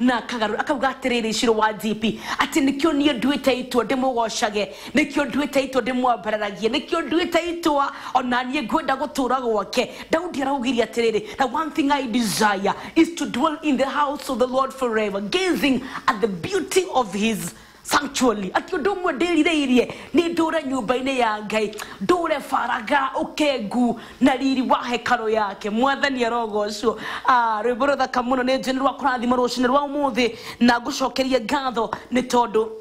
na akagarũra akauga atĩrĩrĩ icirũ wa GP atĩ nĩkĩo niĩ nduĩte itua ndĩmũgocage nĩkĩo nduĩte itua ndĩmwambararagie nĩkĩo nduĩte itua ona niĩ ngwenda gũtũra gwake Daudi araugire atĩrĩrĩ na one thing I desire is to dwell in the house of the Lord forever gazing at the beauty of his sanctuary ati undu umwe ndirireirie ni ndure nyumba-ini ya ngai ndure faraga ukengu na riri wa hekaru yake mwathani arogocwo Ah, rwimbo ruthaka muno ni njeni rwa kurathima rucini rwa umuthi na ngucokerie ngatho ni tondu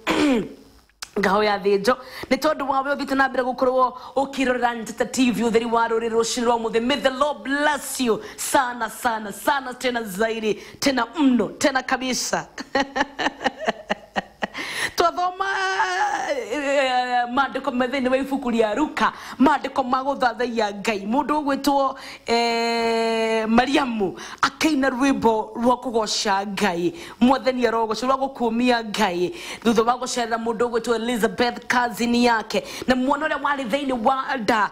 ngaho ya thĩnjo nĩ tondũ wawe ũthiĩte na mbere gũkorwo ũkĩrorera njata tv ũtheri wa rũrĩ rũcinĩ rwa mũthĩ may the lord bless you sana sana sana tena zaidi tena mno tena kabisa twathoma eh, maandĩko me thĩinĩ wa ibuku rĩa ruka maandĩko ma gũthathaiya ngai mũndũ ũgwĩtwo eh, mariamu akĩina rwĩmbo rwa kũgoca ngai mwathani arogoca rwa gũkuumia ngai thutha wa gũcerera mũndũ ũgwĩtwo elizabeth kazini yake na mwana ũrĩa warĩ thĩinĩ wa nda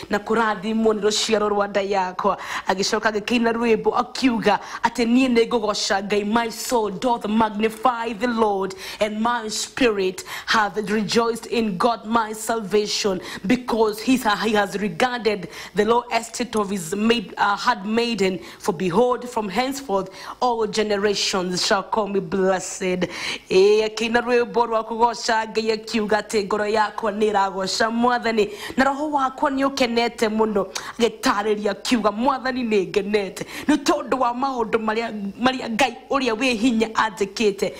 na kũrathimwo nĩ rũciaro rwa nda yakwa agĩcoka agĩkĩina rwĩmbo akiuga atĩ niĩ nĩ ngũgoca ngai my soul doth magnify the lord and my spirit hath rejoiced in god my salvation because he, he has regarded the low estate of his maid, uh, handmaiden For behold, from henceforth all generations shall call me blessed. Eh, akĩina rwĩmbo rwa kũgooca ngai akiuga atĩ ngoro yakwa nĩ ĩragooca mwathani na roho wakwa nĩ ũkenete mũno agĩtaarĩria akiuga mwathani nĩ ngenete nĩ tondũ wa maũndũ marĩa marĩa ngai ũrĩa wĩ hinya anjĩkĩte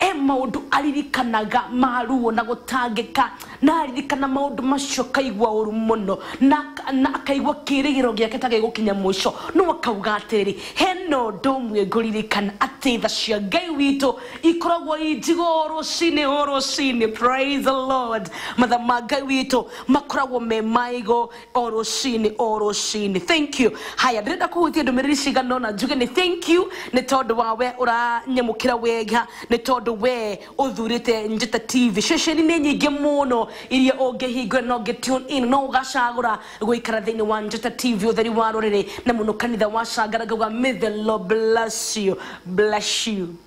He maũndũ aririkanaga ma ruo na gũtangĩka, na aririkana maũndũ macio akaigua ũũru mũno, na aka- na akaigua kĩĩrĩgĩrĩro gĩake ta gĩgũkinya mũico. No akauga atĩrĩrĩ, he na ũndũ ũmwe ngũririkana, atĩ tha cia Ngai witũ ikoragwo i njigũ o rũcinĩ o rũcinĩ. Praise the Lord. Matha ma Ngai witũ makoragwo me maigũ. o rũcinĩ o rũcinĩ thank you haya ndĩrenda kũhutia ndũmĩrĩri cigana ũna njuge nĩ thank you nĩ tondũ wa we ũranyamũkĩra wega nĩ tondũ we ũthurĩte njata tv ceceni nĩ nyingĩ mũno iria ũngĩhingũra na ũngĩ tune in no ũgacagũra gũikara thĩinĩ wa njata tv ũtheri wa rũrĩrĩ na mũno kanitha wa cangara ngauga may the lord bless you bless you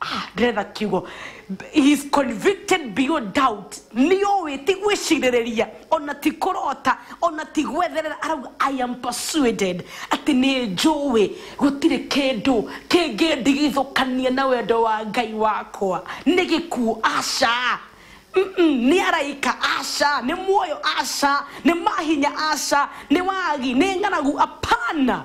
Ah, ndĩretha kiugo he is convicted beyond doubt nĩ ũĩ ti gwĩcirĩrĩria ona ti kũrota ona ti gwetherera arauga i am persuaded atĩ nĩ njũĩ gũtirĩ kĩndũ kĩngĩndigithũkania na wendo wa ngai wakwa nĩ gĩkuũ aca Mm-mm, nĩ araika aca nĩ muoyo aca nĩ mahinya aca nĩ wagi nĩ ng'aragu apana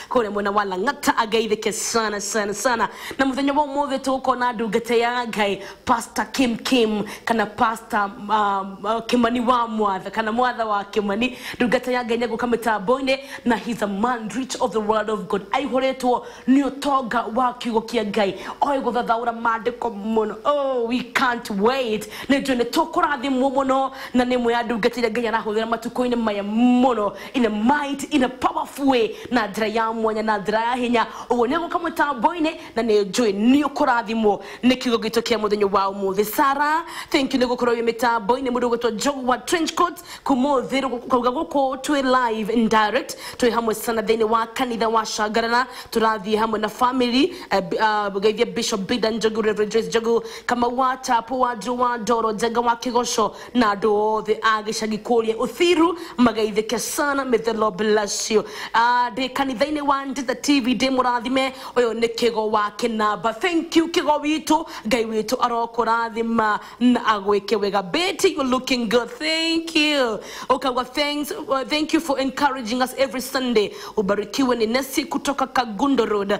kũrĩa mwena wa lang'ata angeithĩke sana sana sana na mũthenya wa ũmũthĩ tũgũkorwo na ndungata ya ngai pasta kim kim kana pasta um, uh, kĩmani wa mwatha kana mwatha wa kĩmani ndungata ya ngai nĩ egũka mĩtambo-inĩ na he's a man rich of the world of god aihũrĩtwo nĩ ũtonga wa kiugo kĩa ngai oĩ gũthathaũra maandĩko mũno oh, we can't wait nĩ njũĩ nĩ tũkũrathimwo mũno na nĩ ĩmwe ya ndungata iria ngai arahũthĩra matukũ-inĩ maya mũno in a might in a powerful way na njĩra ya mwanya na njĩra ya hinya ũguo nĩ egũka mũtambo-inĩ na nĩ njũĩ nĩ ũkũrathimwo nĩ kiugo gitũ kĩa mũthenya wa ũmũthĩ sara thank you nĩ gũkorwo wĩ mĩtambo-inĩ mũndũ ũgwĩtwo njogu wa trench coat kũmũthĩ kauga gũkũ twĩ live and direct twĩ hamwe sana thĩinĩ wa kanitha wa shangarana tũrathiĩ hamwe na family eh, b- ah, geithia bishop bida njogu reverend joyce njogu kamau wa tapo wa ndiro wa ndoro njenga wa kĩgoco na andũ othe a gĩcagi kũrĩa Uthiru mageithĩke sana may the Lord bless you Ah, ndĩ kanitha-inĩ wa Njata TV ndĩ mũrathime ũyũ nĩ kĩgo wa kĩnamba thank you kĩgo witũ ngai witũ arokũrathima na agwĩke wega Betty you looking good thank you ukagwa thanks uh, thank you for encouraging us every Sunday ubarikiwe ni Nesi kutoka Kagundo Road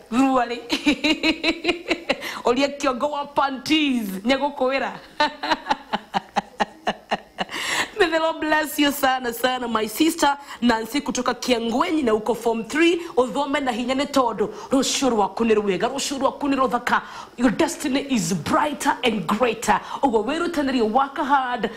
thurua rĩ ũrie kĩongo wa panties nĩ gũkũĩra May the Lord bless you sana sana my sister Nancy kutoka Kiangwenyi na uko form 3 uthome na hinya nĩ tondũ rũciũ rwaku nĩ rwega rũciũ rwaku nĩ rũthaka your destiny is brighter and greater ũguo wĩrutanĩrie work hard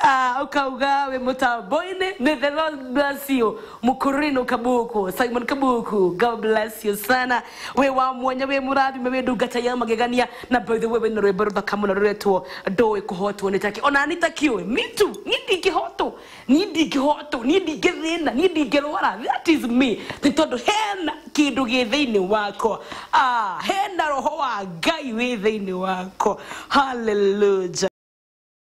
Ah, ukauga we mutamboini may the lord bless you mukurino kabuku simon kabuku god bless you sana we wa mwanya we murathime we ndungata ya magegania na by the way we na rwimbo ruthaka muno ruretwo ndowe kuhotwo ni taki ona ni taki we me too ni ndingihotwo ni ndingihotwo ni ndingithina ni ndingirwara that is me ni tondu hena kindu gi thiini wakwa ah hena roho wa ngai wi thiini wakwa hallelujah